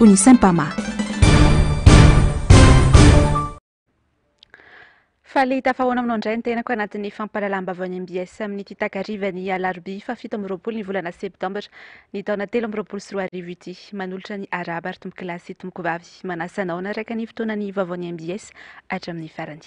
Unisempama. Faly tafahoana aminao indray ny tenako anatin'ny fampahalalam-baovao any MBS amin'ity takarivan'ny alarobia fahafito amby roapolo ny volana septambra ny taona telo amby roapolo sy roa arivo ity. Manolotra ny arahaba ary tompokolahy sy tompokovavy. Manasa anao hanaraka ny fotoana ny vaovao ny MBS hatramin'ny farany.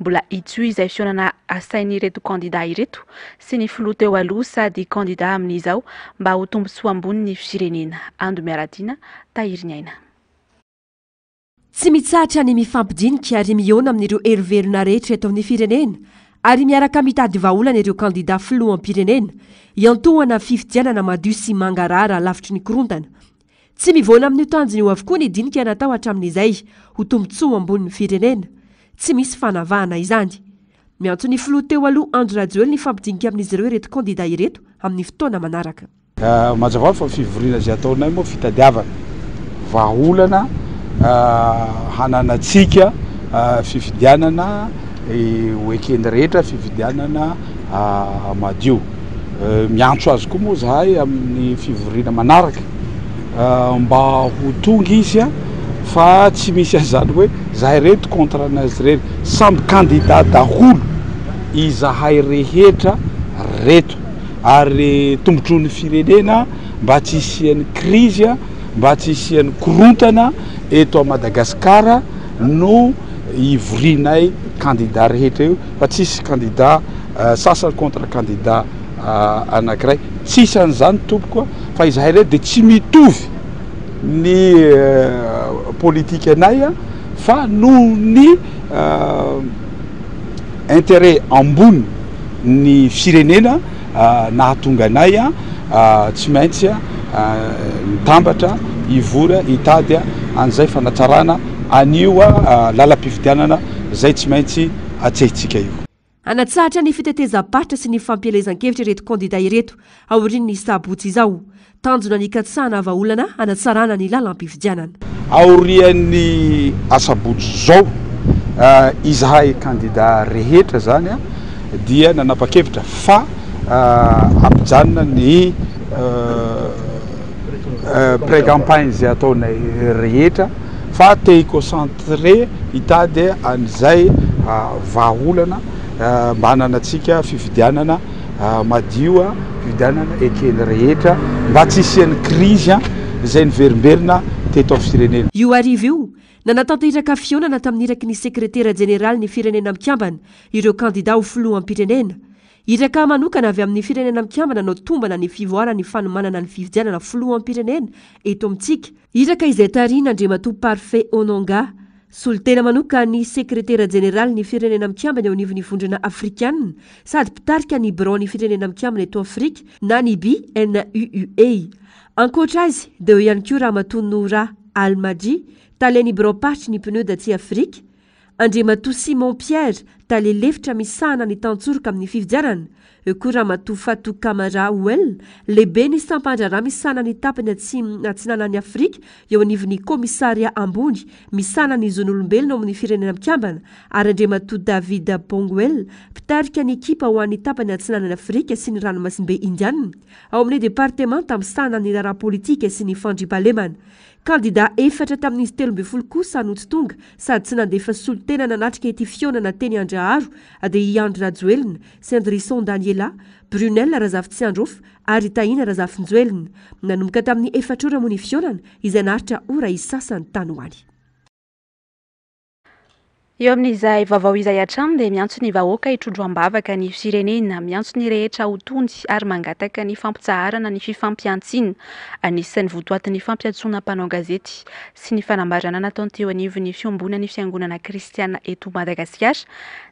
Mbola hitsohy izay fihaonana asain'ireto kandidà ireto sy ny filoha teo aloha sady kandidà amin'izao mba ho tombontsoa ambony ny firenena. Ando Miaradiana, Tahiriniaina. Tsy mitsahatra ny mifampidinika ary mihaona amin'ireo herivelona rehetra eto amin'ny firenena ary miaraka mitady vahaolana ireo kandidà filoham-pirenena hiantohana fifidianana madio sy mangarahara lavitry ny korontana Tsy mivoana amin'io tanjona io avokoa ny dinika natao hatramin'izay, ho tombontsoa ho ambonin'ny firenena. Tsy misy fanavahana izany. Miantso ny filoha teo aloha Andry Rajoely ny hifampidinika amin'izy ireo ireto kandida ireto amin'ny fotoana manaraka. Mazava hoazy fa fivoriana izay ataonay moa fitadiavana vahaolana hananantsika fifidianana ho eken'ny rehetra, fifidianana. madio. Miantso azy koa moa zahay amin'ny fivoriana manaraka mba ho tonga izy fa tsy misy an'izany hoe zahay reto contre anazy irery, samby candidat daholo izahay rehetra reto ary tombotsoan'ny firenena mba tsy hisian'ny crise, mba tsy hisian'ny korontana eto à Madagascar no hivorianay candidat rehetra io. fa tsisy kandida sasany contre kandida anakiray tsisy an'izany tompoko a fa izahay re dia tsy mitovy ny politika anay a fa noho ny interet ambony ny firenena nahatonga anay tsy maintsy nitambatra hivory hitady an'izay fanatsarana an'io lalam-pifidianana izay tsy maintsy atsehintsika io. Hanatsahatra ny fitetezam-paritra sy ny fampielezan-kevitra ireto kandida ireto aorian'ny sabotsy izao. Tanjona ny hikatsahana vahaolana hanatsarana ny lalam-pifidianana. Aorian'ny asabotsy izao, izahay kandida rehetra izany dia nanapa-kevitra fa hampijanona ny pré-campagne izay ataonay rehetra fa te hi-concentrer hitady an'izay vahaolana mba hananantsika fifidianana madio, fifidianana ekeny rehetra mba tsy hisian'ny krizy izay niverimberina teto amin'ny firenena. Io hariva io, nanatanteraka fihaonana tamin'ny iraky ny Sekretera Jeneralin'ny Firenena Mikambana ireo kandidà ho Filoham-pirenena. Iraka manokana avy amin'ny Firenena Mikambana no tombana ny fivoaran'ny fanomanana ny fifidianana Filoham-pirenena eto amintsika, iraka izay tarihin'Andriamatoa Parfait Ononga, Solontena manoka ny Sekretera Jeneralin'ny Firenena Mikambana eo anivon'ny Vondrona Afrikanina sady mpitarika ny Biraon'ny Firenena Mikambana eto Afrika na ny BNUUA. Ankoatra azy dia eo ihany koa Ramatoa Noura Almadji, Talen'ny Biraom-paritry ny Pnud atsy Afrika, Andriamatoa Simon Pierre, Tale lefitra misahana ny Tantsoroka amin'ny Fifidianana, Eo koa Ramatoa Fatou Camara Ouel, lehiben'ny sampan-draharaha misahana ny tapany atsimo atsinanan'i Afrika eo anivon'ny kaomisaria ambony misahana ny zon'olombelona ao amin'ny Firenena Mikambana, ary Andriamatoa David Bongwell, mpitarika ny ekipa ho an'ny tapany atsinanan'i Afrika sy ny Ranomasimbe Indiana ao amin'ny departemanta misahana ny raharaha politika sy ny fandriampahalemana. Kandidà efatra tamin'izy telo ambin'ny folo kosa no tsy tonga sady tsy nandefa solontena nanatrika ity fihaonana teny Andraharo dia i Andry Rajoelina, Sindrison Daniela, Brunelle Razafitsiandrof ary Tahina Razafinjoelina. Nanomboka tamin'ny efatra ora moa ny fihaonana izay naharitra ora isasany tany ho any. Eo amin'izay vaovao izay hatrany dia miantso ny vahoaka hitrondro am-bavaka ny firenena, miantso ny rehetra ho tony ary mangataka ny fampitsaharana ny fifampihantsiana. Anisan'ny votoatin'ny fampiantsoana mpanao gazety sy ny fanambarana nataony teo anivon'ny fiombonan'ny fiangonana kristiana eto Madagasikara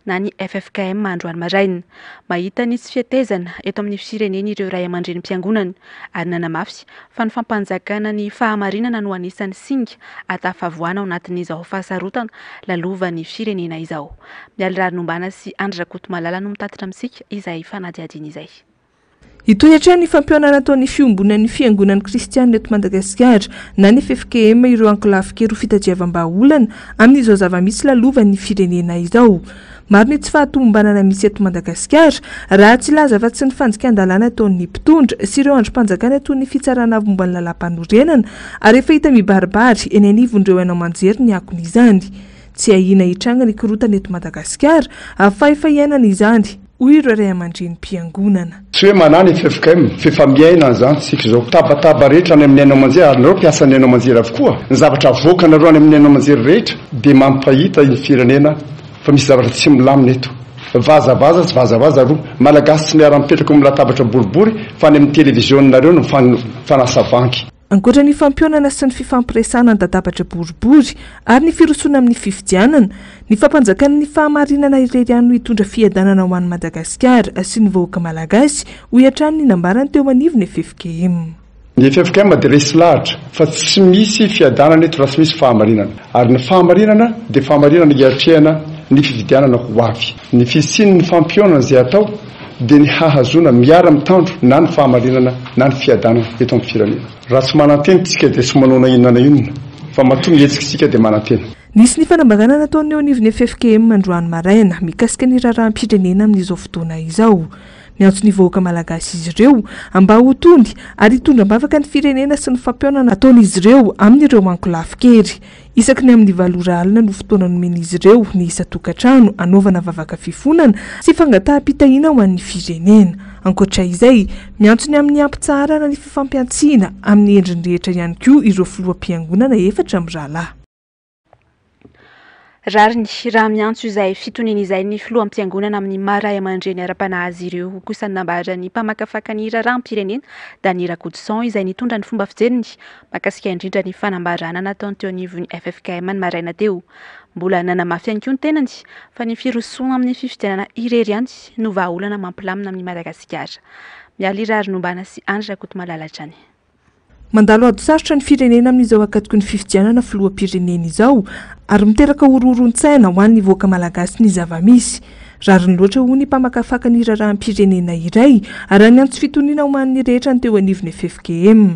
na ny ffkm androany maraina. Mahita ny tsy fihetezana eto amin'ny firenena ireo ray aman-drenim-piangonana ary nanamafy fa ny fampanjakana ny fahamarinana no anisan'ny singa ahatafavoana ao anatin'izao fahasarotana lalovan'ny firenena izao. Mialy Rarinombana sy Andry Rakotomalala no mitatitra amintsika izay fanadihadiana izay. Hitohy hatrany ny fampihaonana ataon'ny Fiombonan'ny Fiangonan'ny Kristianina eto Madagasikara na ny ffkm ireo ankolafin-kery ho fitadiavam-bahaolana amin'izao zava-misy lalovan'ny firenena izao. Maro ny tsy fahatomombanana misy eto Madagasikara raha tsy hilaza afa-tsy ny fandikan-dalàna ataon'ny mpitondra sy ireo andrim-panjakana toy ny Fitsarana Momba ny Lalàmpanorenana ary efa hita mibaribary eny anivon'ireo haino aman-jery ny akon'izany. Tsy ahiana hitranga ny korontana eto Madagasikara, fahefaiainana izany. hoy ireo ray aman-drenim-piangonana. Tsy hoe manahy ny ffkm f'efa miaina an'izany isika izao. Tabataba rehetra any amin'ny haino aman-jery, ary nareo mpiasa ny haino aman-jery avokoa, ny zavatra avoakanareo any amin'ny haino aman-jery rehetra dia mampahita ny firenena fa misy zavatra tsy milamina eto. Vazavaza sy vazavaza roa. Malagasy tsy miara-mipetraka eo amin'ny latabatra boribory fa any amin'ny televiziona-nareo no mifanasa vangy. Ankoatra ny fampihaonana sy ny fifampiresahana an-dadabatra boribory ary ny firosoana amin'ny fifidianana, ny fampanjakana ny fahamarinana irery ihany no hitondra fiadanana ho an'i Madagasikara sy ny vahoaka malagasy, hoy hatrany ny nambarany teo anivon'ny ffkm. Ny ffkm dia resy lahatra fa tsy misy fiadanana eto raha tsy misy fahamarinana, ary ny fahamarinana dia fahamarinana hiatrehana ny fifidianana ho avy. Ny fisian'ny fampihaonana izay atao dia ny hahazoana miara-mitandro na ny fahamarinana na ny fiadanana eto amin'ny firenena. Raha tsy manantena isika dia tsy manao na inona na inona fa matoa mihetsika isika dia manantena. Nisy ny fanambarana nataony eo anivon'ny ffkm androany maraina mikasika ny raharaham-pirenena amin'izao fotoana izao. Miantso ny vahoaka malagasy izy ireo mba ho tony ary hitondra am-bavaka ny firenena sy ny fampihaonana ataon'izy ireo amin'ireo ankolafin-kery. Isaky ny amin'ny valo ora alina no fotoana nomen'izy ireo ny isan-tokantrano hanaovana vavaka fifonana sy fangataham-pitahiana ho an'ny firenena. Ankoatra izay, miantso ny amin'ny hampitsaharana ny fifampihantsiana amin'ny endriny rehetra ihany koa ireo filoham-piangonana efatra mirahalahy. Rariny raha miantso izay fitoniana izay ny filoham-piangonana amin'ny maha ray aman-dreny ara-panahy azy ireo kosa ny nambaran'ny mpamakafaka ny raharaham-pirenena, Dany Rakotoson, izay nitondra ny fomba fijeriny Mankasitra indrindra ny fanambarana nataony teo anivon'ny ffkm ny maraina teo. Mbola nanamafy ihany koa ny tenany fa ny firosoana amin'ny fifidianana irery ihany no vahaolana mampilamina amin'i Madagasikara. Mialy Irary Nombana sy Andry Rakotomalala hatrany. Mandalo ady sarotra ny firenena amin'izao akatoky ny fifidianana filoham-pirenena izao ary miteraka horohoron-tsaina ho an'ny vahoaka malagasy ny zava-misy. Rariny loatra hoy ny mpamakafaka ny raharaham-pirenena iray, ary haniantso fitoniana homan'ny rehetra ny teo anivon'ny ffkm.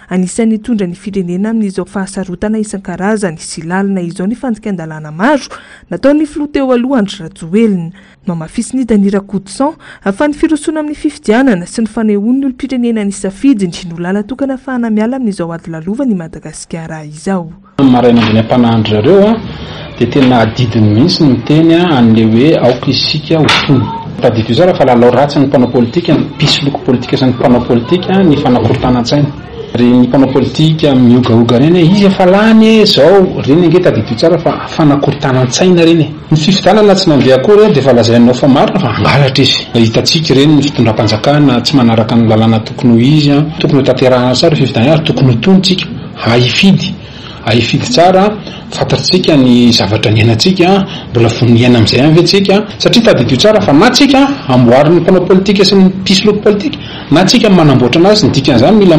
Anisan'ny hitondra ny firenena amin'izao fahasarotana isan-karazany sy lalina izao ny fandikan-dalàna maro nataon'ny filoha teo aloha Andry Rajoelina. Nohamafisin'i Dany Rakotoson fa ny firosoana amin'ny fifidianana sy ny fanehoan'ny olom-pirenena ny safidiny no làla-tokana afahana miala amin'izao ady lalovan'i Madagasikara izao. Tamin'ny maraina andron'ny ampanahan-dry zareo dia tena adidiny mihitsy ny miteny an'ilay hoe aoka isika ho tony. Tadidio tsara fa lalao ratsin'ny mpanao politika, ny mpisoloky politika sy ny mpanao politika ny fanakorontanan-tsaina. Ry ny mpanao politika mihogahoga ireny hoe iza efa lany e, izao, ireny ange tadidio tsara fa fanakorontanan-tsaina ireny e. Ny fifidianana tsy nandeha akory dia efa lazainao fa marina fa hangalatra izy. Hitantsika ireny ny fitondram-panjakana tsy manaraka ny lalàna tokony ho izy, tokony ho tanterahina tsara io fifidianana io ary tokony ho tony isika. Ahifidy, ahifidy tsara an! Fantatsika ny zavatra niainantsika an! Mbola vonona hiaina amin'izay ihany ve tsika? Satria tadidio tsara fa na tsika amboarin'ny mpanao politika sy ny mpisoloky politika, na tsika manamboatra anazy, ny dikan'izany mila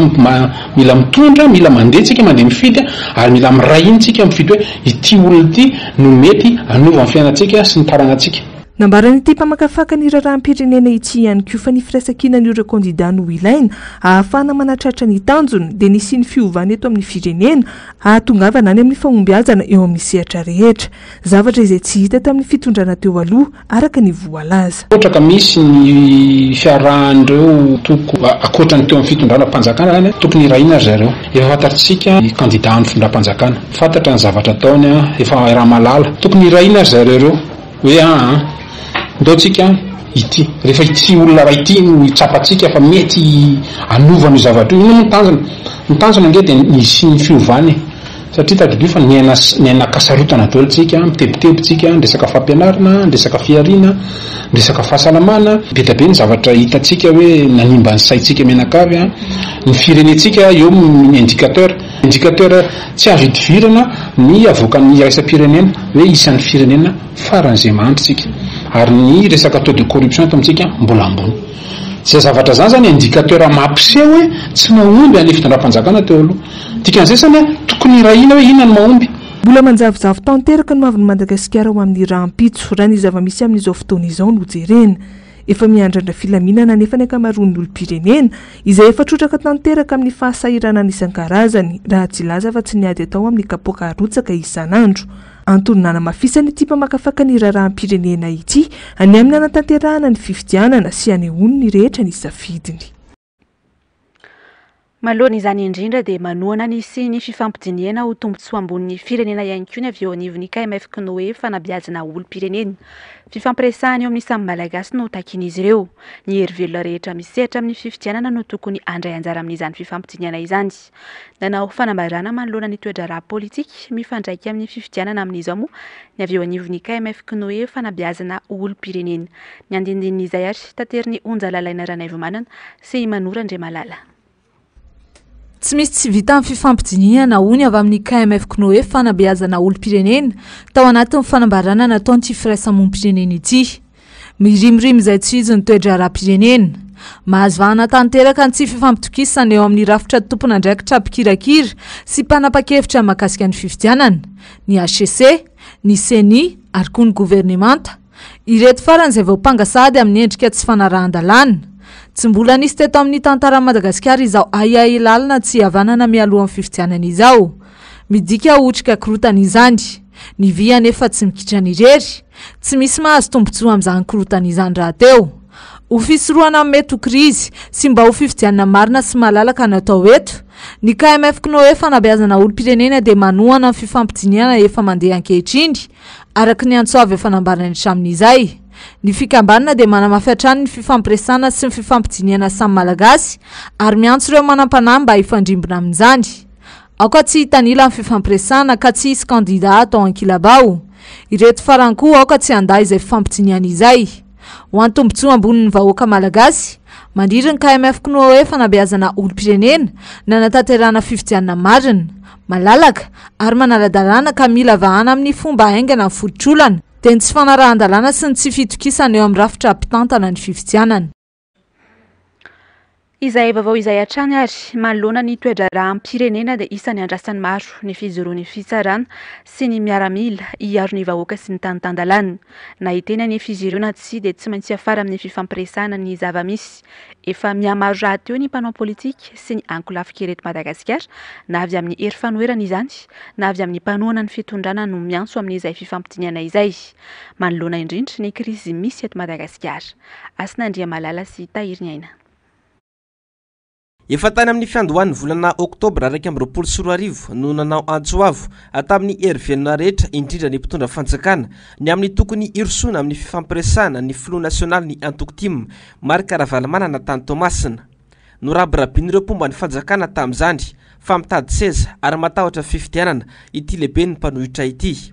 mila mitondra, mila mandeha tsika, mandeha mifidy, ary mila miray hina tsika mifidy hoe ity olona ity no mety hanova ny fiainantsika sy ny taranatsika. Nambaran'ity mpamakafaka ny raharaham-pirenena ity ihany koa fa ny firaisankinan'ireo kandidà no ilaina ahafahana manatratra ny tanjona dia ny hisian'ny fiovana eto amin'ny firenena hahatongavana any amin'ny fahombiazana eo amin'ny sehatra rehetra, zavatra izay tsy hita tamin'ny fitondrana teo aloha araka ny voalaza. Ohatra ka misy ny fiarahan'ireo antoko ankoatra ny teo amin'ny fitondranam-panjakana izany, tokony hirahina ry zareo. Efa fantatsika ny kandidà an'ny fitondram-panjakana, fantatra ny zavatra ataony, efa raha malala. Tokony hirahina ry zareo ireo. Hoe aa an! ndao tsika an! ity, rehefa ity olona iray ity no hitsapantsika fa mety hanova an'io zavatra io, inona moa ny tanjona? ny tanjona ange dia ny hisian'ny fiovana e! satria tadidio fa niaina niainakasarotana daholo tsika, mitebiteby tsika, ny resaka fampianarana, ny resaka fihariana, ny resaka fahasalamana, bedabe ny zavatra hitantsika hoe nanimba ny saintsika mianakavy an! ny firenentsika eo ny indicateur. Indicateur tsy azo idivirana ny avoakan'ny iraisam-pirenena hoe isan'ny firenena faran'izay mahantra isika ary ny resaka taux de corruption eto amintsika mbola ambony. Izay zavatra izany izany indicateur mampiseho hoe tsy mahomby an'ilay fitondram-panjakana teo aloha. Dikan'izay izany tokony hirahina hoe inona no mahomby. Mbola manjavozavo tanteraka ny hoavin'i Madagasikara ho amin'ny rahampitso, raha ny zava-misy amin'izao fotoana izao no jerena. Efa miandrandra filaminana anefa ny ankamaroan'ny olom-pirenena, izay efa trotraka tanteraka amin'ny fahasahiranana isan-karazany, raha tsy hilaza fa tsy ny ady atao amin'ny kapoaka arotsaka isan'andro. Antony nanamafisana ity mpamakafaka ny raharaham-pirenena ity, ny amin'ny hanatanterahana ny fifidianana sy hanehoany ny rehetra ny safidiny. Manoloana izany indrindra dia manohana ny hisian'ny fifampidinihana ho tombontsoa ambonin'ny firenena ihany koa ny avy eo anivon'ny KMF K'noe fanabeazana olom-pirenena. Fifampiresahana eo amin'ny samy Malagasy no takian'izy ireo. Ny herivelona rehetra misehatra amin'ny fifidianana no tokony handray anjara amin'izany fifampidinihana izany. Nanao fanambarana manoloana ny toe-draharaha politika mifandraika amin'ny fifidianana amin'izao moa ny avy eo anivon'ny KMF Kinoe fanabeazana ho olom-pirenena. Ny andinindinin'izay ary taterin'i Onja Lalaina Ranaivomanana sy i Manour Andriamalala. Tsy misy tsy vita ny fifampidinihana, hoy ny avy amin'ny KMF Kinoe fanabeazana olom-pirenena tao anatin'ny fanambarana nataony ity firaisamonim-pirenena ity. Mirimorimo izay tsy hijo ny toe-draharaham-pirenena. Mahazo vahana tanteraka ny tsy fifampitokisana eo amin'ny rafitra tompon'andraikitra mpikirakira sy mpanapa-kevitra mahakasika ny fifidianana, ny hcc, ny ceni ary koa ny governemanta. Ireto farany izay voampanga sahady amin'ny endrika tsy fanarahan-dalàna. Tsy mbola nisy teto amin'ny tantaran'i Madagasikara izao ahiahy lalina tsy hihavanana mialohan'ny fifidianana izao. Midika ho otrika korotana izany. Ny vy anefa tsy mikitrana irery. Tsy misy mahazo tombontsoa amin'izany korotana izany rahateo. Ho fisorohana ny mety ho krizy, sy mba ho fifidianana marina sy malalaka no atao eto. Ny KMF Cnoe Fanabeazana olom-pirenena dia manohana ny fifampidinihana efa mandeha ankehitriny, araka ny antso avo efa nambarany hatramin'izay. Ny fikambanana dia manamafy hatrany ny fifampiresahana sy ny fifampidinihana samy Malagasy, ary miantso ireo manam-panahy mba hifandrimbona amin'izany. Aoka tsy hitanila ny fifampiresahana ka tsy hisy kandidà atao an-kilabao. Ireto farany koa aoka tsy handà izay fifampijiniana izay. Ho an'ny tombontsoa ambonin'ny vahoaka malagasy, mandriry ny KMF Knuoe fanabeazana olom-pirenena nanatanterahana fifidianana marina, malalaka ary manara-dalàna ka mila vahana amin'ny fomba haingana ny fototr'olana dia ny tsy fanarahan-dalàna sy ny tsy fitokisana eo amin'ny rafitra mpitantana ny fifidianana. Izay vaovao izay hatrany ary, manoloana ny toe-draharaham-pirenena dia isan'ny andrasan'ny maro ny fijoroan'ny fitsarana sy ny miaramila hiaro ny vahoaka sy ny tany tan-dalàna. Na hiteny anefa izy ireo na tsia dia tsy maintsy hiafara amin'ny fifampiresahana ny zava-misy. Efa mihamaro rahateo ny mpanao politika sy ny ankolafinkery eto Madagasikara, na avy amin'ny hery fanoherana izany na avy amin'ny mpanohana ny fitondrana no miantso amin'izay fifampidinihana izay. Manoloana indrindra ny krizy misy eto Madagasikara. Hasina Andriamalala sy Tahiriniaina. Efa tany amin'ny fiandohan'ny volana oktobra iraika amby roapolo sy roa arivo no nanao antso avo tamin'ny hery velona rehetra, indrindra ny mpitondra fanjakana, ny amin'ny tokony hirosoana amin'ny fifampiresahana ny filoha nasionalin'ny antoko tim, Marc Ravalomanana tany Toamasina. Norabirabin'ireo mpomba ny fanjakana tamin'izany fa mitady seza ary matahotra fifidianana ity lehiben'ny mpanohitra ity.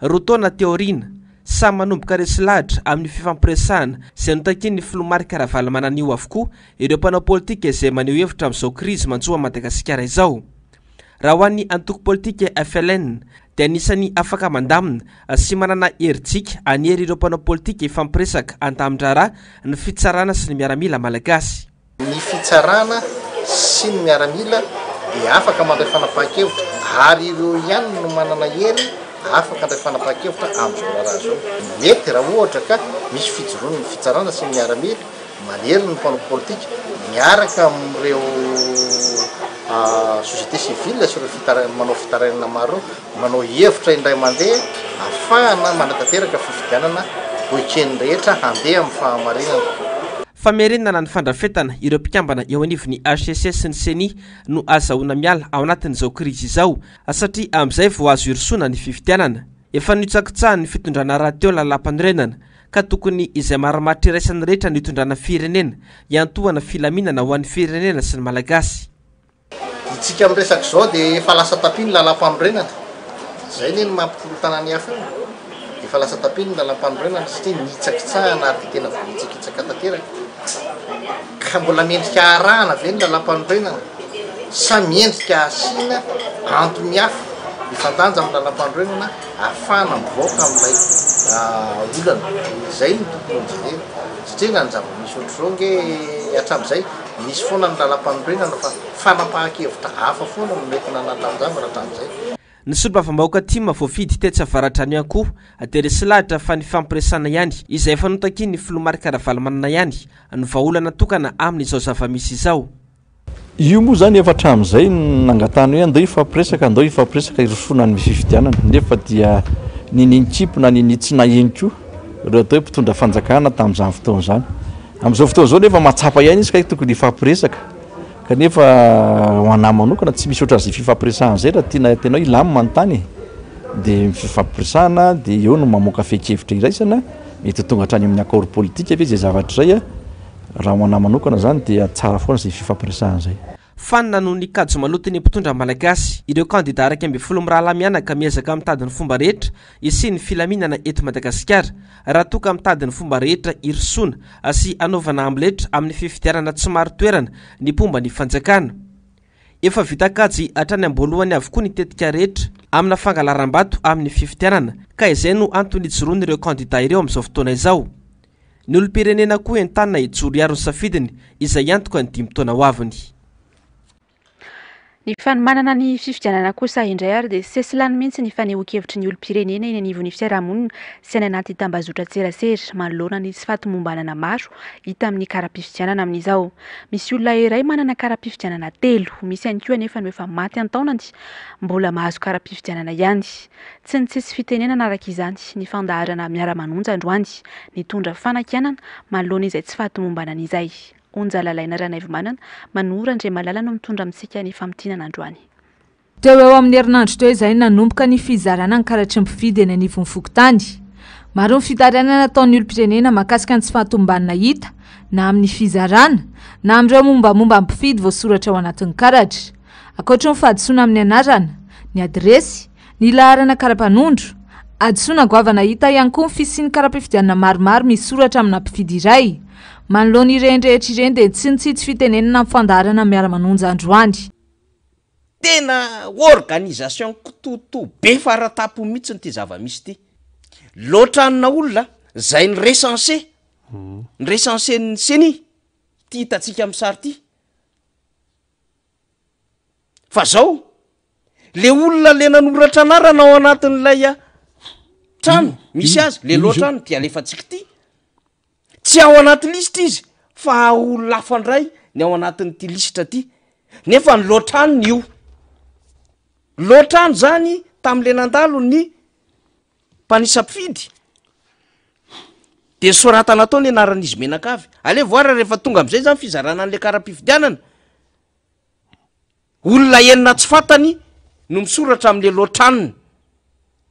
Roa taona teo aoriana, samy manomboka resy lahatra amin'io fifampiresahana izay notakian'ny filoha Marc Ravalomanana io avokoa ireo mpanao politika izay maneho hevitra amin'izao krizy manjo an'i Madagasikara izao. Raha ho an'ny antoko politika FLN dia anisan'ny afaka mandamina sy manana herijika hanery ireo mpanao politika hifampiresaka an-tamin-draharaha ny fitsarana sy ny miaramila malagasy. Ny fitsarana sy ny miaramila dia afaka mandray fanapahan-kevitra ary ireo ihany no manana hery afaka handray fanapahan-kevitra amin'izao raharaha izao. Mety raha ohatra ka misy fijoroan'ny fitsarana sy ny miaramila manery ny mpanao politika miaraka amin'ireo société civile sy ireo manao fitarainana maro ireo, Manao hevitra indray mandeha afahana manatanteraka fifidianana ho eken'ny rehetra handeha amin'ny fahamarinana. Famerenana ny fandrafetana ireo mpikambana eo anivon'ny hcc sy ny ceni no azahoana miala ao anatin'izao krizy izao satria amin'izay vao azo irosoana ny fifidianana. Efa nitsakitsahan'ny fitondrana rahateo lalàmpanorenana ka tokony izay marimaritra iraisan'ny rehetra nitondrana firenena hiantohana filaminana ho an'ny firenena sy ny Malagasy. Isika amin'ny resaka izao dia efa lasa tapis ny lalam-panorenana. Izay anie no maha mpikolok'tanàna ny hafa eo. Efa lasa tapis ny lalam-panorenana satria nihitsakitsahana ary dia tena voahitsakitsaka tanteraka. Ka mbola mendrika harahana ve ny lalam-panorenana sa mendrika hasiana antony hafa mifandanja amin'ny lalam-panorenana ahafahana mivoaka amin'ilay olana. Izay no tokony ho jerena satria raha ny zava-misy ohatr'izao ange hatramin'izay. Misy foana ny lalam-panorenana fa fanapahan-kevitra hafa foana no mety nanatanjavina hatramin'izay. Ny solombavambahoaka tim voafidy tetsy Avaradrano ihany koa dia resy lahatra fa nifampiresahana ihany izay efa notakian'ny filoha Marc Ravalomanana ihany no vahaolana tokana amin'izao zava-misy izao. Io moa izany efa hatramin'izay no nangatahana hoe andao hifampiresaka, andao hifampiresaka hirosoana amin'ny fifidianana nefa dia ninian-kimpy na ninian-tsy naheno koa ireo atao hoe mpitondra fanjakana tamin'izany fotoana izany. Amin'izao fotoana izao nefa mahatsapa ihany izy kay tokony hifampiresaka kanefa ho anah manokana tsy misy ohatran'izay fifampiresahana izay raha tiana tena hoe hilamina ny tany e, dia ny fifampiresahana dia eo no mamoaka fehin-kevitra iraisana, mety ho tonga hatrany amin'ny accord politique ve izay zavatra izay a, raha ho anah manokana izany dia tsara foana izay fifampiresahana izay. Fanina noho ny kajy maloton'ny mpitondra malagasy, ireo kandida iraika ambin'ny folo mirahalahy mianaka miezaka mitady ny fomba rehetra hisian'ny filaminana eto Madagasikara, raha toa ka mitady ny fomba rehetra hirosoana sy hanaovana amletra amin'ny fifidianana tsy marin-toerana ny mpomba ny fanjakana. Efa vita kajy hatrany am-boalohany avokoa ny tetika rehetra amina fangalaram-bato amin'ny fifidianana ka izay no antony hijoroan'ireo kandida ireo amin'izao fotoana izao. Ny olom-pirenena koa entanina hijoro hiaro ny safidiny izay hiantoka ny dimy taona ho aviny. Ny fanomanana ny fifidianana kosa indray ary dia sesilany mihitsy ny fanehoan-kevitry ny olom-pirenena eny anivon'ny fiarahamonina sy any anaty tambazotran-tserasera manoloana ny tsy fahatomombanana maro hita amin'ny kara-pifidianana amin'izao. Misy olona iray manana kara-pifidianana telo, misy ihany koa anefa no efa maty an-taonany mbola mahazo kara-pifidianana ihany. Tsy nitsitsy fitenenana araka izany ny fandaharana Miara-manonja androany, nitondra fanakianana manoloana izay tsy fahatomombanana izay. Onja Lalaina Ranaivomanana, Manoa Randriamalala no mitondra amintsika ny famintinana androany. Teo ho eo amin'ny herinandro teo izay no nanomboka ny fizarana ny karatry ny mpifidy eny anivon'ny fokontany. Maro ny fitarainana nataon'ny olom-pirenena mahakasika ny tsy fahatomombanana hita na amin'ny fizarana na amin'ireo mombamomba ny mpifidy voasoratra ao anatin'ny karatra. Ankoatry ny fahadisoana amin'ny anarana, ny adiresy, ny laharana kara-panondro, hadisoana goavana hita ihany koa ny fisian'ny kara-pifidianana maromaro misy soratra amina mpifidy iray. Manoloana ireny rehetra ireny dia tsy nitsitsy fitenenana ny fandaharana Miara-manonja androany. Tena organisation kitoto be faratampony mihitsiny ity zava-misy ity. Loatra anona olona izay ni-recense, ni-recense ny ceni, ity hitantsika amin'ny sary ity. Fa zao, le olona le nanoratra anarana ao anatin'ilay a, trano misy azy, le lohatrany dia alefantsika ity, tsy ao anaty lisitra izy fa olona hafa ndray ny ao anatin'ity lisitra ty, nefa ny lohatranony io, lohatrany zany tam'le nandalo ny. mpanisam-pifidy dia soratana atao ny anaran'izy menankavy. Alevo ara rehefa tonga amin'izay izany fizarana an'ilay kara-pifidianana, olona enina tsy fantany no misoratra amin'ilay loatranony,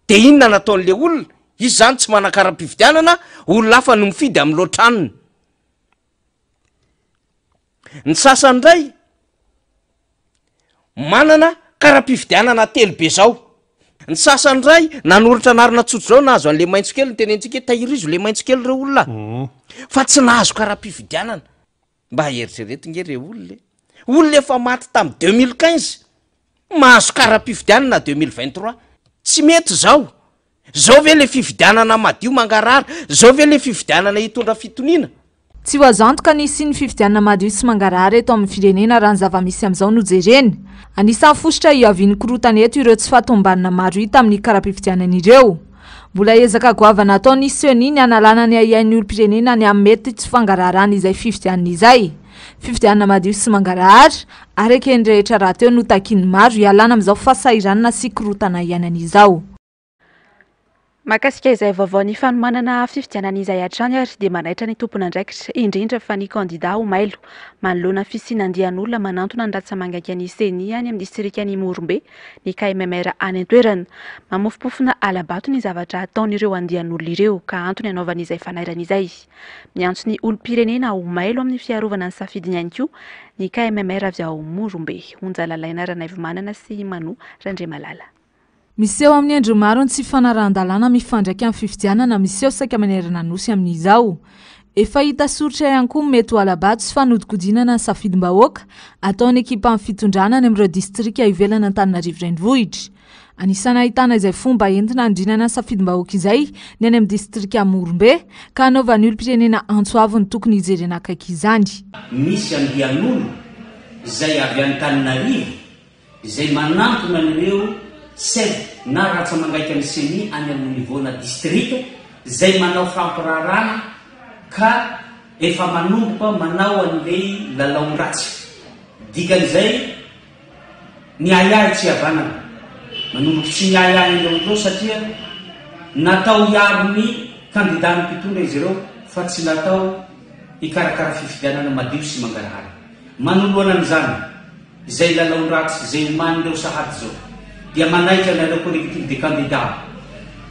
dia inona no ataon'ilay olona? Izy izany tsy manan-kara-pifidianana, olona hafa no mifidy amin'ny loatranony. Ny sasany indray manana kara-pifidianana telo be zao, ny sasany indray nanoratra anarana tsotra zao nahazo an'le maitso kely ny tenentsika hoe tahirizo le maitso kely reo olona a! fa tsy nahazo kara-pifidianana, mba eritrereto nge reo olona e! olona efa maty tamin'ny deux mille quinze Mahazo kara-pifidianana deux mille vingt trois. Tsy mety zao. Zao ve le fifidianana madio mangarara? Zao ve le fifidianana hitondra fitoniana? Tsy ho azo antoka ny hisian'ny fifidianana madio sy mangarahara eto amin'ny firenena raha ny zava-misy amin'izao no jerena. Anisan'ny fositra hiavian'ny korontana eto ireo tsy fahatomombanana maro hita amin'ny kara-pifidianana ireo. Mbola ezaka goavana ataon'i Ceni ny hanalana ny ahiahin'ny olom-pirenena ny amin'ny mety tsy fangaraharana izay fifidianana izay. Fifidianana madio sy mangarahara, araka eny rehetra rahateo no takian'ny maro hialana amin'izao fahasahiranana sy korontana iainana izao. Mahakasika izay vaovao ny fanomanana fifidianana izay hatrany ary dia manaitra ny tompon'andraikitra, indrindra fa ny kandida ho mailo. Manoloana ny fisiana andian'olona manantona ny ratsamangaika ny Ceni any amin'ny distrikan'i Morombe, ny KMMR any an-toerana. Mamofompofona hala-bato ny zavatra ataon'ireo andian'olona ireo ka antony anaovany izay fanairana izay. Miantso ny olom-pirenena ho mailo amin'ny fiarovana ny safidiny ihany koa ny KMMR avy ao Morombe, Onja Lalaina Ranaivomanana sy Manoa Randriamalala. Miseho amin'ny endriny maro ny tsy fanarahan-dalàna mifandraika amin'ny fifidianana miseho saika manerana Nosy amin'izao. Efa hita soritra ihany koa ny mety ho hala-bato sy fanodinkodinana ny safidim-bahoaka ataon'ny ekipan'ny fitondrana any amin'ireo distrika ivelan'Antananarivo Renivohitra. Anisan'ny ahitana izay fomba entina handrinana ny safidim-bahoaka izay ny any amin'ny distrika Morombe ka hanaovan'ny olom-pirenena antso avo ny tokony hijerena akaiky izany. Misy andian'olona izay avy Antananarivo izay manantona an'ireo ced na rantsa-mangaika ny ceni any amin'ny niveau-na distrika izay manao fampiraharana ka efa manomboka manao an'ilay lalaon-dratsy. Dikan'izay, ny ahiahy tsy havanana. Manomboka tsy miahiahy ny laondrao satria natao hiaro ny kandidàn'ny mpitondra izy ireo fa tsy natao hikarakara fifidianana madio sy mangarahara. Manoloana an'izany, Izay lalaon-dratsy izay omanin'ireo sahady izao dia manaitra anareo collectif des candidats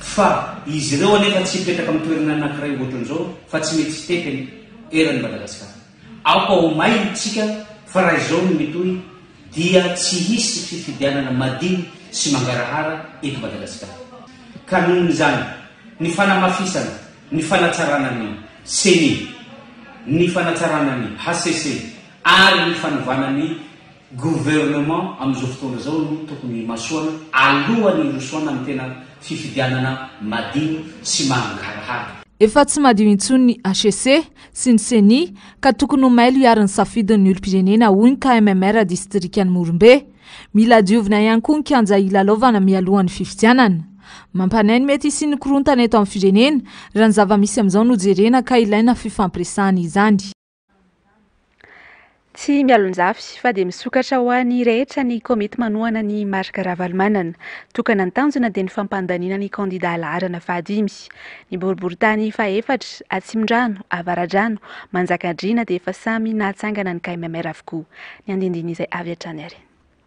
fa izy ireo anefa tsy hipetraka amin'ny toerana anankiray ohatran'izao fa tsy mety sitefy anie eran'i Madagasikara. Aoka ho may isika fa raha izao no mitohy dia tsy hisy fifidianana madio sy mangarahara eto Madagasikara. Ka noho izany, ny fanamafisana ny fanatsarana ny Ceni, ny fanatsarana ny hcc, ary ny fanovana ny gouvernement amin'izao fotoana izao no tokony himasoana alohan'ny hirosoana amin'ny tena fifidianana madio sy mangarahara. Efa tsy madio intsony ny HCC sy ny Ceni ka tokony ho mailo hiary ny safidin'ny olom-pirenena, hoy ny KMMR distrikan'i Morombe. Mila diovina ihany koa ny kianja hilalaovana mialohan'ny fifidianana. Mampanahy ny mety hisian'ny korontana eto amin'ny firenena raha ny zava-misy amin'izao no jerena ka ilaina fifampiresahana izany. Tsy mialonjafy fa dia misokatra ho an'ny rehetra ny komity manohana ny marika Ravalomanana. Tokana ny tanjona dia ny fampandaniana ny kandida laharana fahadimy. Ny boriborintany fahefatra, Atsimondrano, Avaradrano, Manjakandriana dia efa samy nahatsangana ny KMMR avokoa. Ny andinindin'izay avy hatrany ary.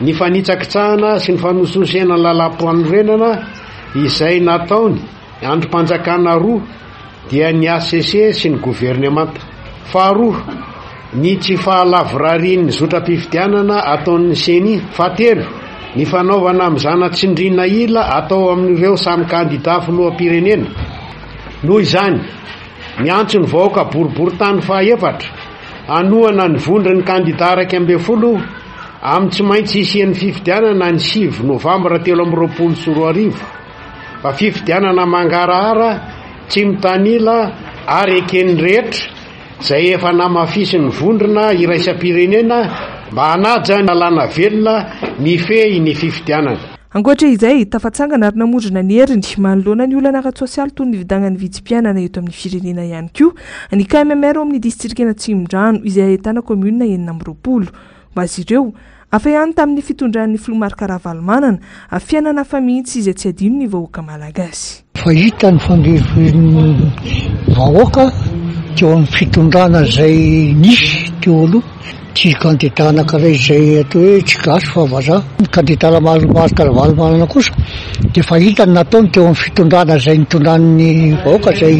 Ny fanitsakitsahana sy ny fanosihosena ny lalàm-panorenana izay nataony andrim-panjakana roa dia ny hcc sy ny governemanta. Faharoa, ny tsy fahalavorarian'ny zotram-pifidianana ataon'ny ceni. Fahatelo, ny fanaovana mizana tsindriana ila atao amin'ireo samy kandidà filoham-pirenena. Noho izany, miantso ny vahoaka boriborintany fahaefatra hanohana ny vondron'ny kandidà iraika ambin'ny folo, Amin'ny tsy maintsy hisian'ny fifidianana ny sivy novambra telo amby roapolo sy roa arivo, fa fifidianana mangarahara, tsy mitanila ary eken'ny rehetra, izay efa namafisin'ny vondrona iraisam-pirenena mba hanaja ny lalàna velona mifehy ny fifidianana. Ankoatra izay, tafatsangana ary namondrona ny heriny manoloana ny olana ara-tsosialy toy ny fidangan'ny vidim-piainana eto amin'ny firenena ihany koa ny KMMR ao amin'ny Distrikan'Atsimondrano, izay ahitana kaominina enina amby roapolo. Ho azy ireo, hafa ihany tamin'ny fitondran'ny filoha Marc Ravalomanana, fiainana hafa mihitsy izay tsy adinon'ny vahoaka malagasy. Fa hita ny fangirifirian'ny vahoaka teo amin'ny fitondrana izay nisy teo aloha, tsy kandida anankiray izay atao hoe tsy gasy fa vazaha. Ny kandida Marc Ravalomanana kosa dia efa hita ny nataony teo amin'ny fitondrana izay nitondran'ny vahoaka izay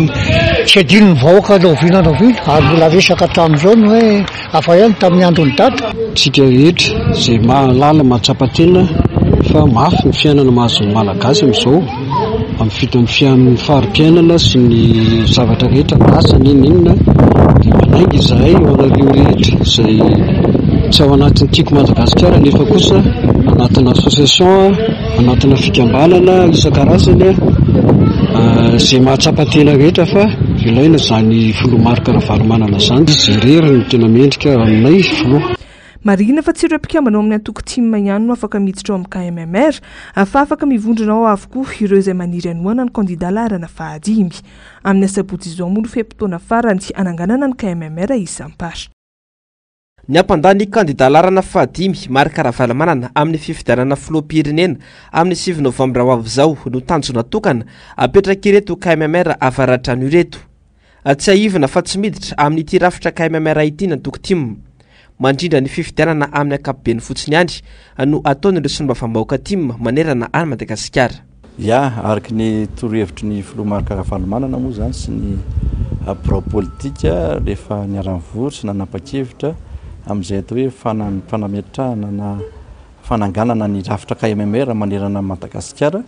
tsy adinon'ny vahoaka rahoviana rahoviana ary mbola resaka hatramin'izao ny hoe. Hafa ihany tamin'ny andron'i Dada. Tsika rehetra izay mahalala mahatsapa tena fa mafy ny fiainana mahazo ny Malagasy amin'izao amin'ny vidin'ny fiainan'ny fari-piainana sy ny zavatra rehetra lasa n'inon'inona dia manainga izahay ho anareo rehetra izay tsy ao anatin'ny Tiako Madagasikara nefa kosa anatin'ny association Anatina fikambanana isan-karazany izay mahatsapa tena rehetra fa ilaina izany filoha Marc Ravalomanana izany. Izy irery no tena mendrika aminay filoha. Marihina fa tsy ireo mpikambana ao amin'ny antoko Tim ihany no afaka miditra ao amin'ny KMMR fa afaka mivondrona ao avokoa ireo izay maniry hanohana ny kandida laharana fahadimy. Amin'ny asabotsy izao moa no fe-potoana farany hananganana ny KMMR isam-paritra. Ny hampandà ny kandidà laharana fahadimy, Marc Ravalomanana, amin'ny fifidianana filoham-pirenena amin'ny sivy novambra ho avy izao no tanjona tokana apetrak'ireto KMMR avaradrano ireto. Tsiahivina fa tsy miditra amin'ity rafitra KMMR ity ny antoko tim. Mandrindra ny fifidianana amin'ny ankapobeny fotsiny ihany no ataon'ireo solombavambahoaka tim manerana an'i Madagasikara. Ya, araka ny torohevitry ny filoha Marc Ravalomanana moa izany sy ny birao politika rehefa niara-nivory sy nanapa-kevitra amin'izay atao hoe fanametrahana na fananganana ny rafitra KMMR manerana an'i Madagasikara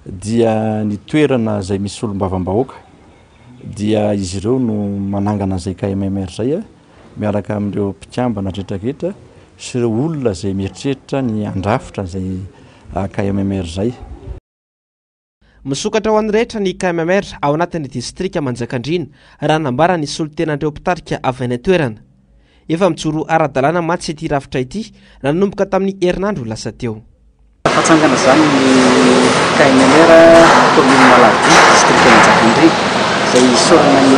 dia ny toerana izay misy solombavambahoaka dia izy ireo no manangana izay KMMR izay. miaraka amin'ireo mpikambana retraretra sy ireo olona izay mieritreritra ny handrafitra izay KMMR izay. Misokatra ho an'ny rehetra ny KMMR ao anatin'ny distrika Manjakandriana, raha nambara ny solontenan'ireo mpitarika avy any an-toerana. Efa mijoro ara-dalàna mantsy ity rafitra ity nanomboka tamin'ny herinandro lasa teo. Hatsangana izany ny KNLR kaominina Alahavitry, distrikan'i Manjakandriana, izay isaorana ny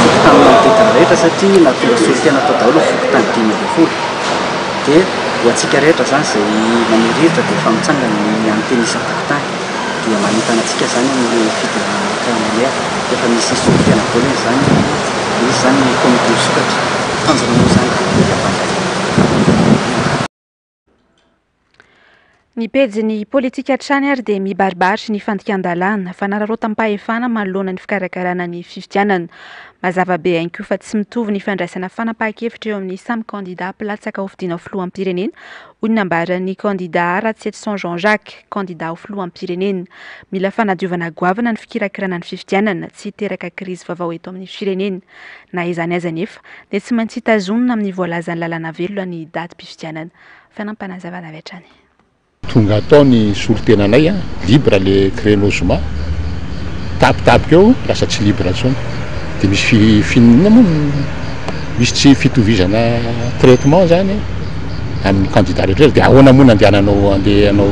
fokontany manodidina rehetra satria nahatonga solontena tao daholo ny fokontany dimy ambin'ny folo. Dia ho antsika rehetra izany izay manery hevitra dia efa mitsangana ny an'ny tena isam-pokontany. Dia manentana antsika izany amin'ireo fidiran'ny KNLR. Efa misy solontena daholo an'izany dia misy izany ny komity misokatra. Tanjona moa izany dia ny hahafantatra ny anarana. Ny pejin'ny politika hatrany ary dia mibaribary ny fandikan-dalàna, fanararaotam-pahefana manoloana ny fikarakarana ny fifidianana. Mazava be ihany koa fa tsy mitovy ny fandraisana fanapahan-kevitra eo amin'ny samy kandidà mpilatsaka ho fidiana ho filoham-pirenena, hoy ny nambaran'ny kandidà Ratsietison Jean Jacques, kandidà ho filoham-pirenena. Mila fanadiovana goavana ny fikirakirana ny fifidianana, tsy hiteraka krizy vaovao eto amin'ny firenena. Na izany aza anefa, dia tsy maintsy tazonina amin'ny voalazan'ny lalàna velona ny datim-pifidianana. Fanampim-panazavana avy hatrany. Tonga hatao ny solotenanay a! Libre le créneau zoma! Tapitapika eo lasa tsy libre intsony! Dia misy fi, fi, inona moa no, misy tsy fitovizana traitement izany e! an'ny candidat rehetra rehetra dia ahoana moa no andehananao andeha hanao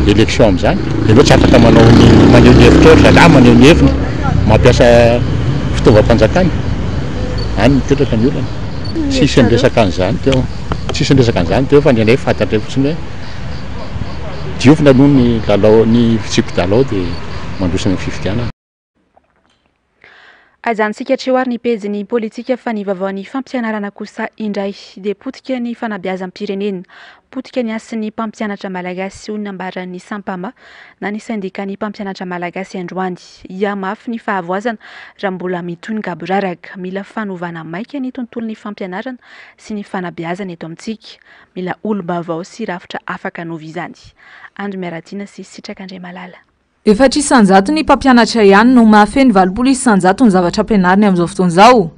élection amin'izany? Ianao tsy afaka manao ny maneho ny hevitra ohatra zalahy maneho ny heviny mampiasa fitaovam-panjakana any mipetraka ny olana. Tsisy niresaka an'izany teo, tsisy niresaka an'izany teo fa ny anay fantatray fotsiny hoe diovina aloha ny lalao ny fitsipi-dalao dia mandroso any amin'ny fifidianana. Aza antsika hatreo ary ny pejin'ny politika fa ny vaovaon'ny fampianarana kosa indray dia potika ny fanabeazam-pirenena, potika ny hasin'ny mpampianatra malagasy hoy ny nambaran'ny Sampama na ny sendikan'ny mpampianatra malagasy androany. Hiahy mafy ny fahavoazana raha mbola mitohy ny gaboraraka. Mila fanovana maika ny tontolon'ny fampianarana sy ny fanabeazana eto amintsika. Mila olom-baovao sy rafitra afaka hanova izany. Andry Miaratiana sy Sitraka Andriamalala. Efatra isan-jato ny mpampianatra ihany no mahafehy ny valopolo isan-jato ny zavatra ampianariny amin'izao fotoana izao.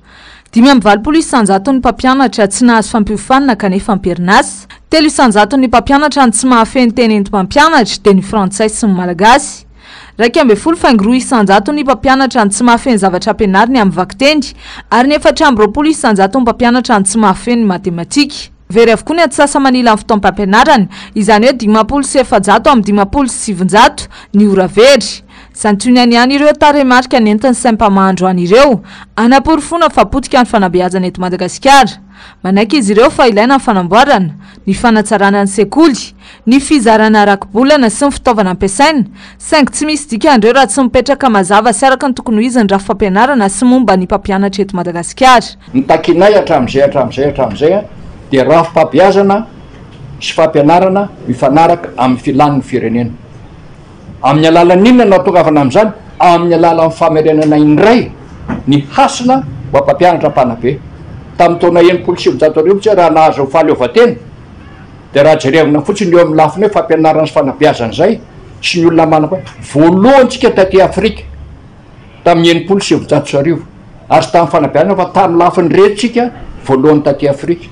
Dimy amby valopolo isan-jato ny mpampianatra tsy nahazo fampiofanina kanefa am-perinasa. Telo isan-jato ny mpampianatra no tsy mahafehy ny teny enti-mampianatra, dia ny frantsay sy ny malagasy. Iraika ambin'ny folo faingo roa isan-jato ny mpampianatra no tsy mahafehy ny zavatra ampianariny amin'ny vakiteny, ary ny efatra amby roapolo isan-jato ny mpampianatra no tsy mahafehy ny matematika. Very avokoa ny antsasa-manilan'ny fotoam-pampianarana, izany hoe dimampolo sy efajato amby dimampolo sy sivinjato ny ora very. Santionany ihany ireo tarehimarika nentin'ny Sempama androany ireo, hanaporofoana fa potika ny fanabeazana eto Madagasikara. Manaiky izy ireo fa ilaina ny fanamboarana, ny fanatsarana ny sekoly, ny fizarana rakibolana sy ny fitaovana ampiasaina, saingy tsy misy dikan'ireo raha tsy mipetraka mazava sy araka ny tokony ho izy ny rafi-pampianarana sy momba ny mpampianatra eto Madagasikara. Ny takinay hatramin'izay hatramin'izay hatramin'izay dia rafi-pambeazana sy fampianarana mifanaraka amin'ny filàn'ny firenena. Amin'ny alalan'inona no atongavana amin'izany? Amin'ny alalan'ny famerenana indray ny hasina ho an'ny mpampianatra mpanabe. Tamin'ny taona enimpolo sy sivinjato arivo tsy hay raha nahazo fahaleovantena, Dia raha jerevina fotsiny eo amin'ny lafiny hoe fampianarana sy fanabeazana izay sy ny olona manam-pa, voalohany tsika taty Afrika tamin'ny enimpolo sy sivinjato sy arivo ary tsy tamin'ny fanabeazana fa tamin'ny lafiny rehetra tsika voalohany taty Afrika.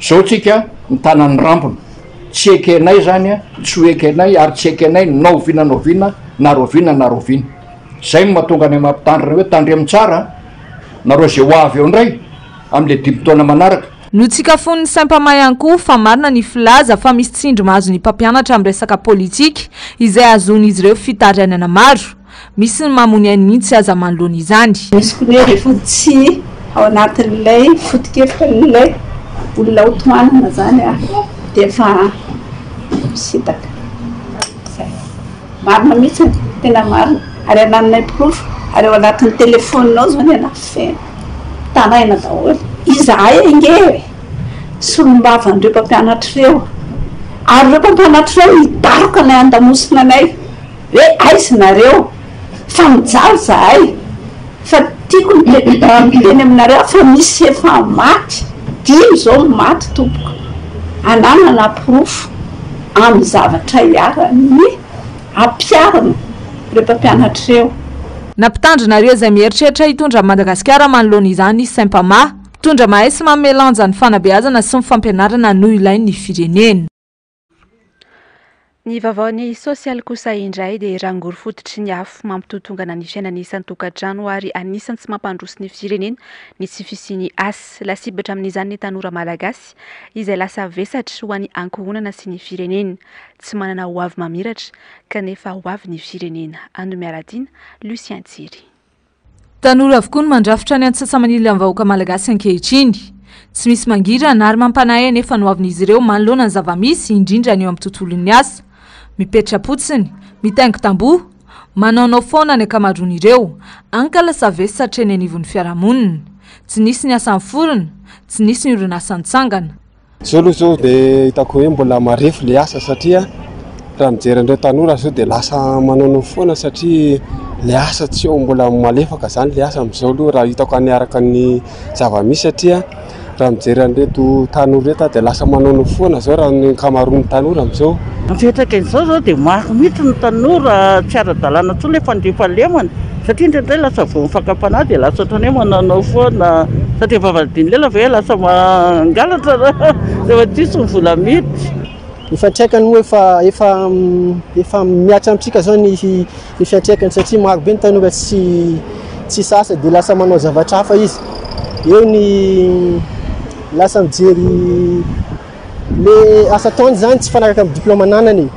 Izao tsika mitana ny rambony. Tsy ekenay izany an, tsy ho ekenay ary tsy ekenay na oviana na oviana na rahoviana na rahoviana. Izay no mahatonga anay mampitandrina hoe tandremo tsara nareo izay ho avy eo indray amin'ilay dimy taona manaraka. Notsikafon'ny Sempama ihany koa fa marina ny filaza fa misy tsindry mahazo ny mpampianatra amin'ny resaka politika izay hahazoan'izy ireo fitarainana maro. Misy ny mamono ainy mihitsy aza manoloana izany. Misy koa ny rehefa tsy ao anatin'ilay foto-kevitr'ilay olona ho tohanana izany dia efa misintaka. Izay. Marina mihitsy ny tena marina ary anananay mporofo ary ao anatin'ny téléphone ao zao ny anah feno taraina daholo izahay ange e! solombavan'ireo mpampianatra ireo ary ireo mpampianatra ireo hidaroka anay handamosina anay hoe aiza nareo fa mijaly zahay Fa tiako ny hiteny aminareo fa misy efa maty dimy izao no maty tompoko ananana porofo amin'ny zavatra iharan'ny ampiharina ireo mpampianatra ireo. Na mpitandrina ary izay mieritreritra hitondra an'i Madagasikara manoloana izany Sempama. Mpitondra mahay sy manome lanja ny fanabeazana sy ny fampianarana no ilain'ny firenena. Ny vaovaon'ny sosialy kosa indray dia rangory fototry ny afo mampitotongana ny fiainana isan-tokantrano ary anisan'ny tsy mampandroso ny firenena ny tsy fisian'ny asa. Lasibatra amin'izany ny tanora malagasy izay lasa vesatra ho an'ny ankohonana sy ny firenena. Tsy manana hoavy mamiratra kanefa hoavy ny firenena. Ando Miaradina, Lucien Tsiry. Tanora avokoa no mandrafitra ny antsasa-manilan'ny vahoaka malagasy ankehitriny. Tsy misy mangirana ary mampanahy anefa ny hoavin'izy ireo manoloana ny zava-misy, indrindra ny eo amin'ny tontolon'ny asa. Mipetra-potsiny, mitaingo tamboho, manaonao foana ny ankamaroan'ireo. Ankalasa vesy hatreny anivon'ny fiarahamonina. Tsy nisy ny asa niforona, tsy nisy ny orinasa nitsangana. Zao aloha zao dia hitako hoe mbola marefo le asa satria raha mijery an'ireo tanora zao dia lasa manaonao foana satria le asa tsy eo mbola malefaka zany le asa amizao aloha raha hitako any araka ny zava-misy satria raha mijery an'ireto tanora ireto aho dia lasa manaonao foana zao raha ny ankamaroan'ny tanora amizao. Ny fiantraikan'izao zao dia maro mihitsy ny tanora tsy ara-dalàna intsony le fandriampahalemana. Satria indraindray lasa vao mifanka am-panahy dia lasa ohatran'ny hoe mananao foana satria vavahadin'i lela ve lasa mangalatra rehefa tsisy ny vola miditra. Efa traikany moa efa efa efa mihatra amintsika zao ny ny fiantraikany satria maro be ny tanora tsy tsisy asa dia lasa manao zavatra hafa izy. Eo ny lasa mijery Le asa ataony zany tsy fanaraka am diploma ananany e!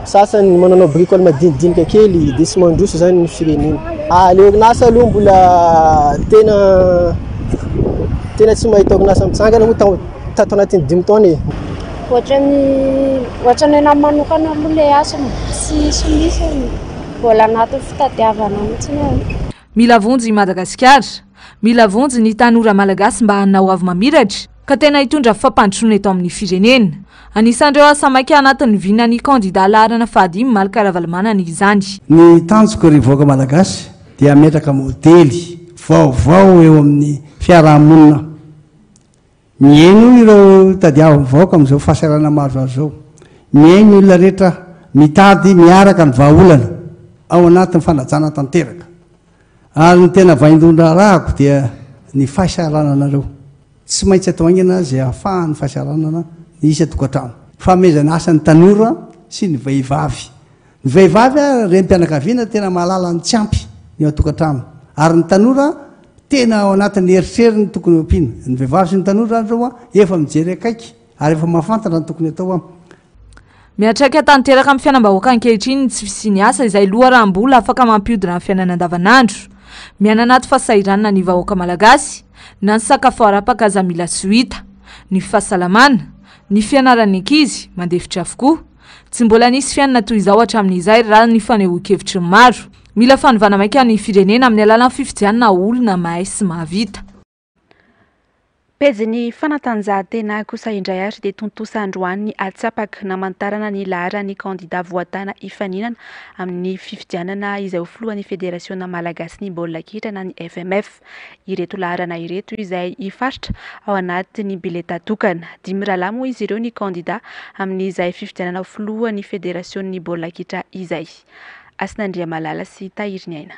Sasany mananao bricole madinidinika kely de tsy mandroso zany ny firenena. Ah le orinasa aloha mbola tena tena tsy mahita orinasa mitsangana moa tao tato anatin'ny dimy taona e! Ohatran'ny ohatran'ny anah manokana aloha le asa tsy tsy misy e! Mbola anatin'ny fitadiavana mitsiny aho. Mila vonjy i Madagasikara. Mila vonjy ny tanora malagasy mba hanao avo mamiratra. ka tena hitondra fampandrosoana eto amin'ny firenena. Anisan'ireo asa maika anatin'ny vinan'ny kandida laharana fahadimy Malik Ravalomanana izany. Ny tanjoko ry vahoaka Malagasy dia hametraka modely vaovao eo amin'ny fiaraha-monina mihaino ireo tadiavin'ny vahoaka amin'izao fahasahiranana mahazo azy izao, mihaino ny olona rehetra mitady miaraka ny vahaolana ao anatin'ny fanajana tanteraka. Ary ny tena vaindohan-draharahako dia ny fahasahirananareo. Tsy maintsy atao haingana azy ahafahan'ny fahasahiranana ny isan-tokantrano. Fanomezana asa ny tanora sy ny vehivavy. Ny vehivavy ary renim-pianakaviana tena mahalala ny tsy ampy ny eo an-tokantrano. Ary ny tanora tena ao anatin'ny eritreriny tokony ho ampiana. Ny vehivavy sy ny tanora ary ireo efa mijery akaiky Ary efa mahafantatra ny tokony atao an. Miantraika tanteraka amin'ny fiainam-bahoaka ankehitriny ny tsy fisian'ny asa izay loharanom-bola afaka mampihodina ny fiainana andavanandro. Miaina anaty fahasahiranana ny vahoaka malagasy, na ny sakafo harapaka aza mila tsy ho hita. Ny fahasalamana, ny fianaran'ny ankizy, mandefitra avokoa. Tsy mbola nisy fiainana toy izao hatramin'izay raha ny fanehoan-kevitry ny maro. Mila fanovana maika ny firenena amin'ny alalan'ny fifidianana olona mahay sy mahavita. Pejin'ny fanatanjahantena kosa indray ary dia tontosa androany ny atsapaka namantarana ny laharan'ny kandida voatàna hifaninana amin'ny fifidianana izay ho filohan'ny Federasiona malagasin'ny baolina kitra na ny FMF. Ireto laharana ireto izay hifaritra ao anatin'ny bileta tokana. Dimy rahalahy moa izy ireo ny kandida amin'izay fifidianana ho filohan'ny Federasion'ny baolina kitra izay. Hasinandriamalala sy Tahiriniaina.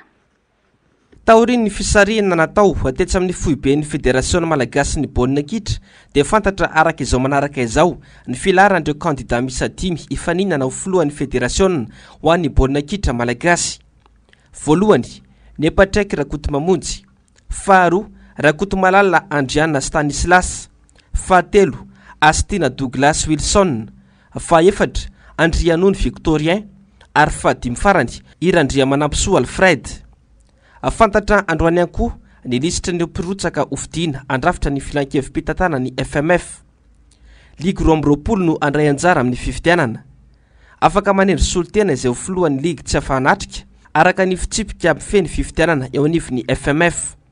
Taorian'ny fisarihana natao tetsy amin'ny foiben'ny Federasiona malagasin'ny baolina kitra dia fantatra araka izao manaraka izao ny filaharan'ireo kandida miisa dimy hifaninana ho filohan'ny federasiona ho an'ny baolina kitra malagasy. Voalohany, Nepatraiky Rakotomamonjy. Faharoa, Rakotomalala Andriana Stanislas. Fahatelo, Astina Douglas Wilson. Fahefatra, Andrianony Victorien, ary fahadimy farany, i Randriamanampisoa Alfred. Fantatra androany ihany koa ny lisitr'ireo mpirotsaka hofidiana handrafitra ny Filankevi-pitantanan'ny FMF. Ligy roa amby roapolo no handray anjara amin'ny fifidianana. Afaka manendry solontena izay ho filohan'ny ligy tsy afa-hanatrika, araka ny fitsipika mifehy ny fifidianana eo anivon'ny FMF.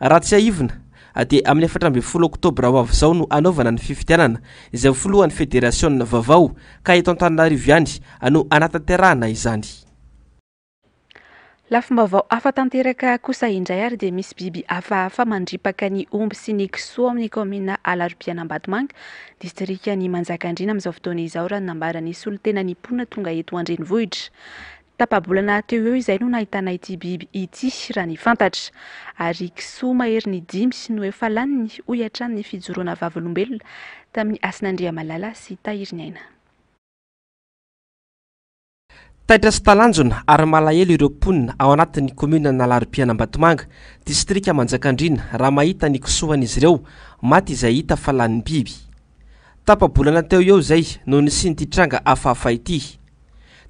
Raha tsiahivina dia amin'ny efatra ambin'ny folo oktobra ho avy izao no hanaovana ny fifidianana izay ho filohan'ny federasiona vaovao ka eto Antananarivo ihany no hanatanterahana izany. Lafim-baovao hafa tanteraka kosa indray ary dia misy biby hafahafa mandripaka ny omby sy ny kisoa ao amin'ny kaominina Alarobihana Ambatomanga, distrikan'i Manjakandriana amin'izao fotoana izao raha ny nambaran'ny solontenan'ny mponina tonga eto an-drenivohitra. Tapa-bolana teo eo izay no nahitana ity biby ity, raha ny fantatra. Ary kisoa maherin'ny dimy no efa laniny, hoy hatrany ny fijoroana vavolombelona tamin'i Hasinandriamalala sy Tahiriniaina. Taitra sy talanjona ary malahelo ireo mponina ao anatin'ny kaominina Analaropiana Ambatomanga, distrika Manjakandriana raha mahita ny kisoa an'izy ireo maty izay hita fa lanin'ny biby. Tapa-bolana teo ho eo izay no nisian'ity tranga hafahafa ity.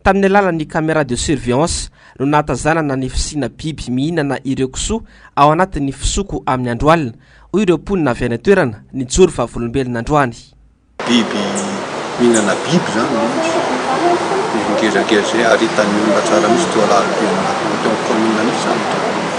Tamin'ny alalan'ny caméra de surveillance no nahatazanana ny fisiana biby mihinana ireo kisoa ao anatin'ny fisoko amin'ny andro alina, hoy ireo mponina avy any an-toerana nijoro vavolombelona androany. Biby mihinana biby izany ny kisoa. Biby ngezangeza izay ary hitan'ny olona tsara mihitsy toa lalim-pirenena teo amin'ny kaominina mihitsy izany.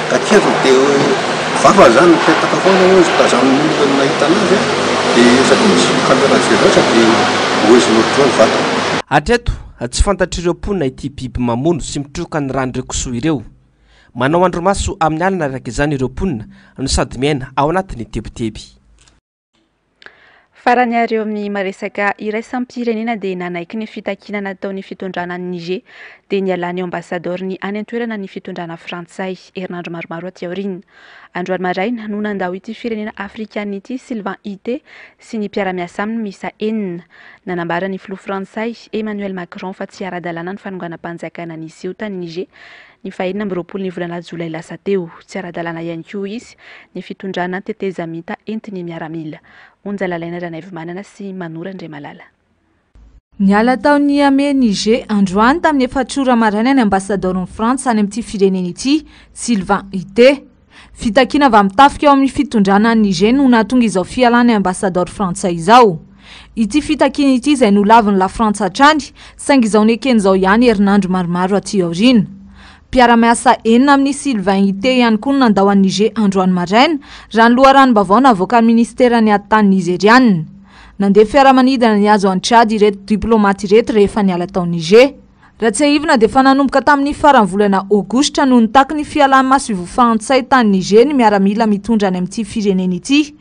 Takiro dia hoe vava izany mipetaka foana hoy izy tazanin'ny olona ny nahita anazy an! dia satria misy caméra surveillance dia ohezinao daholo ny vatany. Hatreto, tsy fantatr'ireo mponina ity biby mamono sy mitroka ny ràn'ireo kisoa ireo. Manao andrimaso amin'ny alina araka izany ireo mponina no sady miaina ao anatin'ny tebiteby. Farany ary eo amin'ny maresaka iraisam-pirenena dia nanaiky ny fitakiana nataon'ny fitondrana an'i Niger dia nialany eo ambasadaoriny any an-toerana ny fitondrana frantsay herinandro maromaro aty aoriana. Androany maraina no nandao ity firenena afrikana ity Sylvain Ite sy ny mpiara-miasa aminy misa enina. Nanambara ny filoha frantsay Emmanuel Macron fa tsy ara-dalàna ny fanonganam-panjakana niseho tany Niger Nivahiny amby roapolo ny volana jolay lasa teo. Tsy ara-dalàna ihany koa izy ny fitondrana tetezamita entin'ny miaramila. Onja lalaina Ranaivomanana sy Manoro Andriamalala. Niala tao Niamey, Niger, androany tamin'ny efatr'ora maraina ny ambasadaoron'i Frantsa any amin'ity firenena ity, Sylvain Ité. Fitakiana avy amin'ny tafika ao amin'ny fitondrana any Niger no nahatonga izao fialan'ny ambasadaoro frantsay izao. Ity fitakiana ity izay nolavin'i Lafrantsa hatrany, saingy izao nekeny izao ihany herinandro maromaro aty aoriana. Mpiara-miasa enina amin'i Sylvain Itté ihany koa no nandao an'i Niger androany maraina, raha ny loharanom-baovao navoakan'ny minisiteran'ny Atitany Nizeriana. Nandeha fiaramanidina nihazo an'i Tchad ireto diplaomaty ireto rehefa niala tao Niger. Raha tsiahivina dia efa nanomboka tamin'ny faran'ny volana Aogositra no nitaky ny fialan'maso Ivo Fahantsay tany Niger ny miaramila mitondra any amin'ity firenena ity.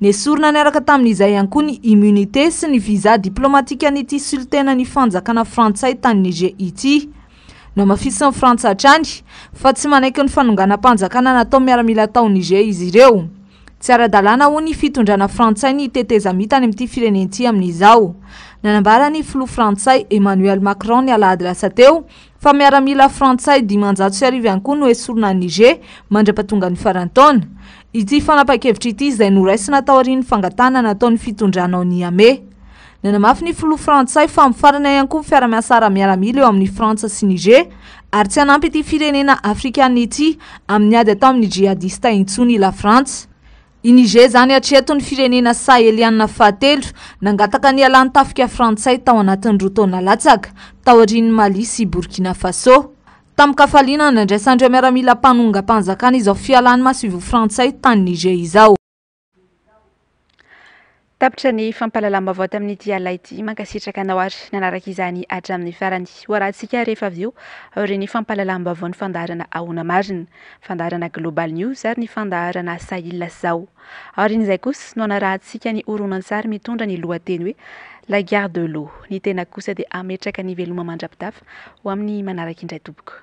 Nesorina niaraka tamin'izay ihany koa ny immunité sy ny visa diplomatikan'ity solontenan'ny fanjakana frantsay tany Niger ity. Nohamafisin'ny Frantsa hatrany fa tsy manaiky ny fanonganam-panjakana nataon'ny miaramila tao Niger izy ireo. Tsy ara-dalàna hoy ny fitondrana frantsay ny tetezamita any amin'ity firenen'ity amin'izao. Nanambara ny filoha frantsay Emmanuel Macron ny alahady lasa teo fa miaramila frantsay dimanjato sy arivo ihany koa no hesorina any Niger mandra-pahatonga ny faran'ny taona. Ity fanapahan-kevitra ity izay noraisina taorian'ny fangatahana nataon'ny fitondrana ao Niamey. Nanamafy ny filoha frantsay fa mifarana ihany koa ny fiara-miasa ara-miaramila eo amin'i Frantsa sy Niger ary tsy hanampy ity firenena afrikanina ity amin'ny ady atao amin'ny jihadista intsony i Lafrantsa. I Niger izany hatreto ny firenena sahelianina fahatelo nangataka ny hialàn'ny tafika frantsay tao anatin'ny roa taona latsaka, taorian'i Mali sy Burkina Faso. Tamin-kafaliana, nandraisan'ireo miaramila mpanongam-panjakana izao fialàn'ny masoivoho frantsay tany Niger izao. Tapitra ny fampahalalam-baovao tamin'ity alina ity. Mankasitraka anao ary nanaraka izany hatramin'ny farany. Ho arahantsika rehefa avy eo aorian'ny fampahalalam-baovao ny fandaharana Ahoana Marina, fandaharana Global News ary ny fandaharana Sahil sy Zao. Aorian'izay kosa no hanarahantsika ny horonantsary mitondra ny lohateny hoe La Gare de l'Eau. Ny tenako kosa dia hametraka ny veloma mandra-pitafa ho amin'ny manaraka indray tompoko.